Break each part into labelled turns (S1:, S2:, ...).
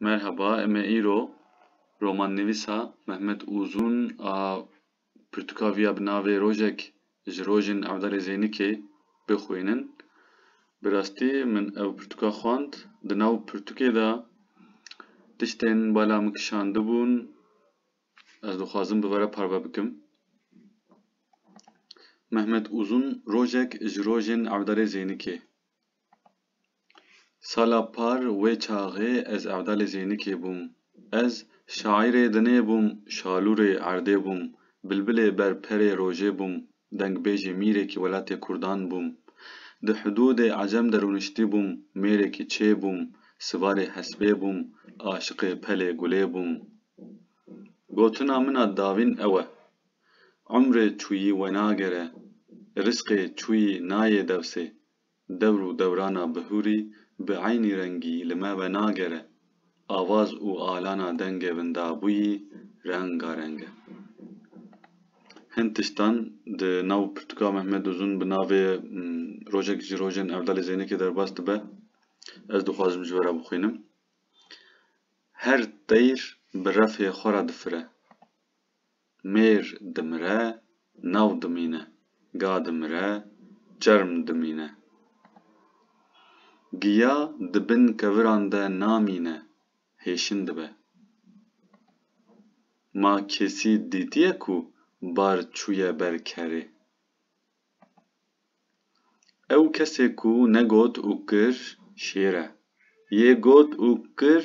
S1: Merhaba, em ê îro romannivîsa Mehmet Uzun a pirtûkaviya bi navê Rojek ji rojên Evdalê Zeynikê bixwînin. Bi rastî min ev pirtûka xwend. Di nav pirtûkê de tiştên bala min kişandibûn ez dixwazim bi we re parve bikim. Mehmet Uzun Rojek ji rojên Evdalê Zeynikê. Sala par wê çaxê ez evdalê Zênikê bûm. Ez şaîrê dinê bûm, şalûrê erdê bûm, bilbilê ber perê rojê bûm, dengbêjê mîrekî welatê kurdan bûm. Di hudûdê ecem de rûniştî bûm, mêrekî çê bûm, sivarê hespê bûm, aşiqê pelê gulê bûm. Gotina min a davîn ew e, Umrê çûyî wenagere, risqê çûyî nayê dewsê. Dewr û dewrana bihûrî bi eynî rengî li me wenagere. Avaz û alana dengê vindabûyî rengareng e. Hin tiştan di nav pirtûka Mehmet Uzun bi navê Rojek ji rojên Evdalê Zeynekê derbas dibe. Ez dixwazim ji we re bixwînim. Her teyr bi refê xwe re difire. mêr dimire, nav dimîne, ga dimire, çerm dimîne. Giya di bin keviran de namîne, hêşin dibe. Ma kesî dîtiye ku bar çûye ber kerê? Ew kesê ku negot û kir şêr e. Yê got û kir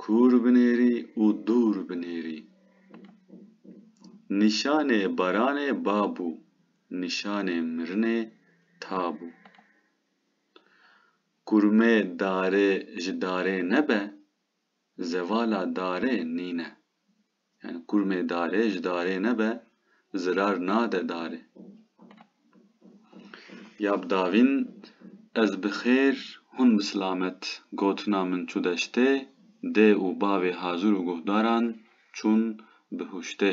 S1: Kûr binêrî û dûr binêrî. Nîşanê baranê ba bû, nîşanê mirinê ta bû. Kurmê darê ji darê nebe, zevala darê nîne. Yani kurmê darê ji darê nebe zirar nade darê. Ya bi davîn Ez bi xêr, hûn bi silamet gotina min çû deştê, dê û bavê hazir û guhdaran çûn bihûştê.